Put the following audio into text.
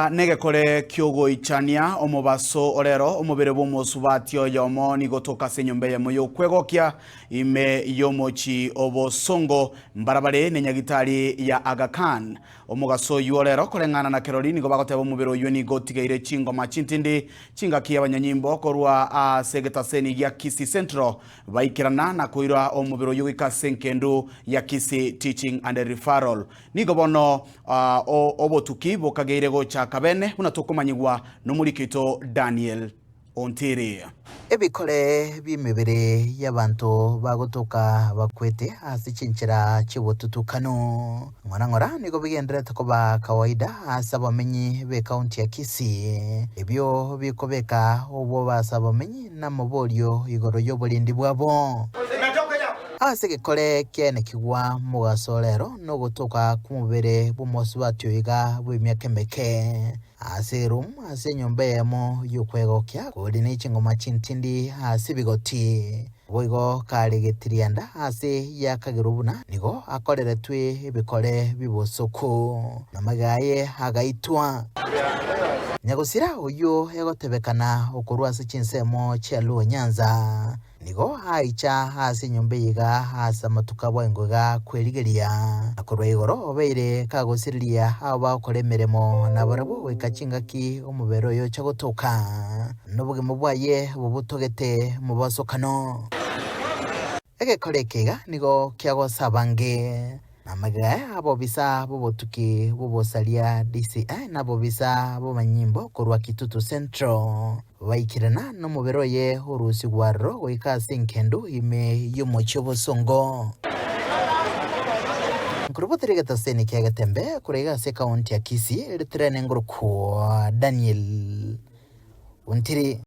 Aa negekore ki'ogoichania omobaso orero omobere bw'omosubati oyomo, nigo toka ase enyomba eyemo y'okwegokia ime y'omochi o bosongo, mbara bare ne nyagitari ya Aga Khan. Omogaso oyio orero koreng'ana na kerori nigo bagoteba omobere oyio nigo otigeire chingoma chintindi chingaki y'abanyanyimbo korwa aase egetaseni gia Kisii Central baikerana na koira omobere oyio goika ase engendu ya Kisii Teaching and Referral Nigo bono obotuki bokageire gocha kabene, buna tokomanyigwa nomoriki oito Daniel ontiri. Ebikore bi'emebere y'abanto bagotoka bakwete ase chinchera chi'obotutukanu ng'ora ng'ora nigo bigendererete koba kawaida ase abamenyi b'ekaunti ya Kisii, ebio bikobeka obwoba ase abamenyi na amaborio igoro y'oborendi bwabo. Ase egekore ekiaine kigwa mogaso rero nogotoka kw'omobere bw'omosubati oiga bw'emiaka emeke, ase eroom ase enyomba eyemo y'okwegokia kori ne chingoma chintindi ase ebigoti. Naboigo karegeti rienda ase y'akagerwa buna nigo akoreretwe ebikore bi'obosoku, na magega aye agaitwa. Nyagosira oyio egotebekana okorwa ase chinsemo chia Luo Nyanza, Nigo aicha ase enyomba eye iga ase amatuko abo engo iga kwerigeria, na korwa igoro obeire kagosiriria abo bagokora emeremo, na barabwo goika chingaki omobere oye ocha gotoka, nobogima bwaye bobotogete mobosokano. Egekore eke iga nigo kiagosa abange. Namagega abobisa b'obotuki bw'obosaria, DCI, na abobisa b'amanyimbo korwa Kitutu Central baikirana nomobere oye orusigwe aroro goika ase engendu ime y'omochie obosongo Nkuru botiri egetaseni kia Getembe kore iga ase ekaunti ya Kisii, Ritirene Nguru Daniel Ontiri.